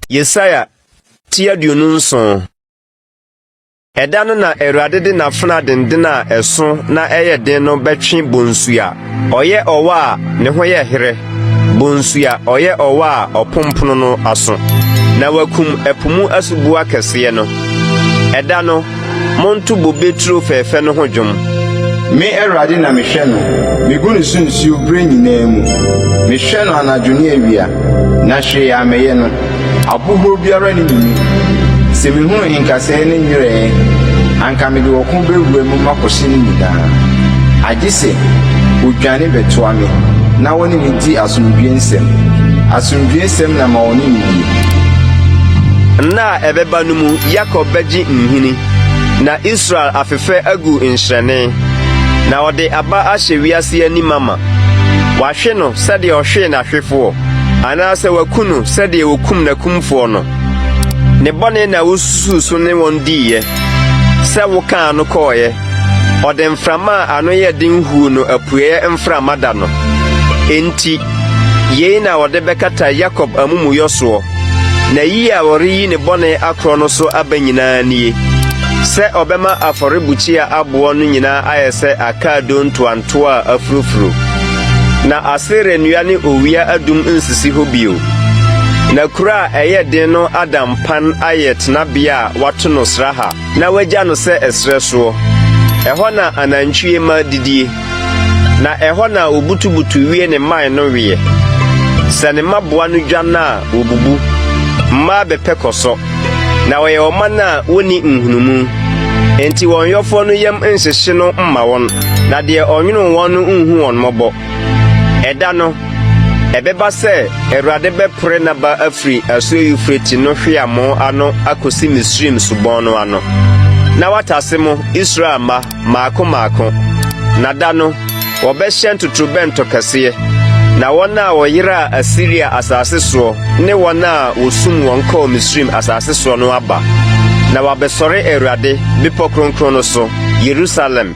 Yesaia ti aduonu nson. Ɛda no na Awurade de n'afena denden a ɛso na ɛyɛ den no bɛtwe bonsu a ɔyɛ ɔwɔ a ne ho yɛ herɛ, bonsu a ɔyɛ ɔwɔ a ɔpompono no aso, na wakum ɛpo mu asuboa kɛseɛ no. Ɛda no Monto bobe turo fɛɛfɛ no ho dwom. Me Awurade na mehwɛ no, migu ne so nsuo berɛ nyinaa mu. Mehwɛ no anadwo ne awia, na hwee a mɛyɛ no, ahohuro biara nni ne mu. Sɛ mehunu nkasɛɛ ne nyerɛɛ, anka mede ɔko bɛwura mu makɔhyɛ ne nyinaa. Agye sɛ ɔdwane bɛtoa me na ɔne me di asomdwoeɛ nsɛm. Asomdwoeɛ nsɛm na ma ɔne me die. ɛbɛba no mu Yakob bɛgye nhini, na Israel afefɛ agu nhyerɛnne, na ɔde aba ahyɛ wiase ani ma ma. Wahwe no sɛdeɛ ɔhwee n'ahwefoɔ, anaasɛ waku no sɛdeɛ wɔkum n'akumfoɔ no. Ne bɔne na wosusuu so ne wɔn diiɛ, sɛ wokaa no kɔeɛ. Ɔde mframa a ano yɛ den huu no apueeɛ mframa da no. Enti yei na wɔde bɛkata Yakob amumuyɔ soɔ. N'ayi a ɔreyi ne bɔne akorɔ no so aba nyinaa nie, sɛ ɔbɛma afɔrebukyia aboɔ no nyinaa ayɛ sɛ akaadoo ntoantoa a afurofuro, na Asera nnua ne owia adum nsisi hɔ bio, na kuro a ɛyɛ den no ada mpan ayɛ tenabea a wɔato no sraha na wɔagya no sɛ ɛserɛ soɔ. Ɛhɔ na anantwie mma didie. Na ɛhɔ na obutubutu wie ne mman no weɛ. Sɛ ne mmaboa no dwan a, wobubu. Mmaa bɛpɛ kɔsɔ, na wɔyɛ ɔman a wonni nhunumu. Enti wɔn yɔfoɔ no yam nhyehye no mma wɔn, na deɛ ɔnwonoo wɔn no nhu wɔn mmɔbɔ. Ɛda no, ɛbɛba sɛ Awurade bɛpore n'aba afiri asuo Eufrate no hweamoo ano akɔsi Misraim subɔn no ano, na watase mo, Israel mma, mmaako mmaako, na da no, wɔbɛhyɛn totorobɛnto kɛseɛ, na wɔn a wɔyeraa Asiria asase soɔ ne wɔn a wɔsum wɔn kɔɔ Misraim asase soɔ no aba, na wɔabɛsɔre Awurade bepɔ kronkron no so, Yerusalem.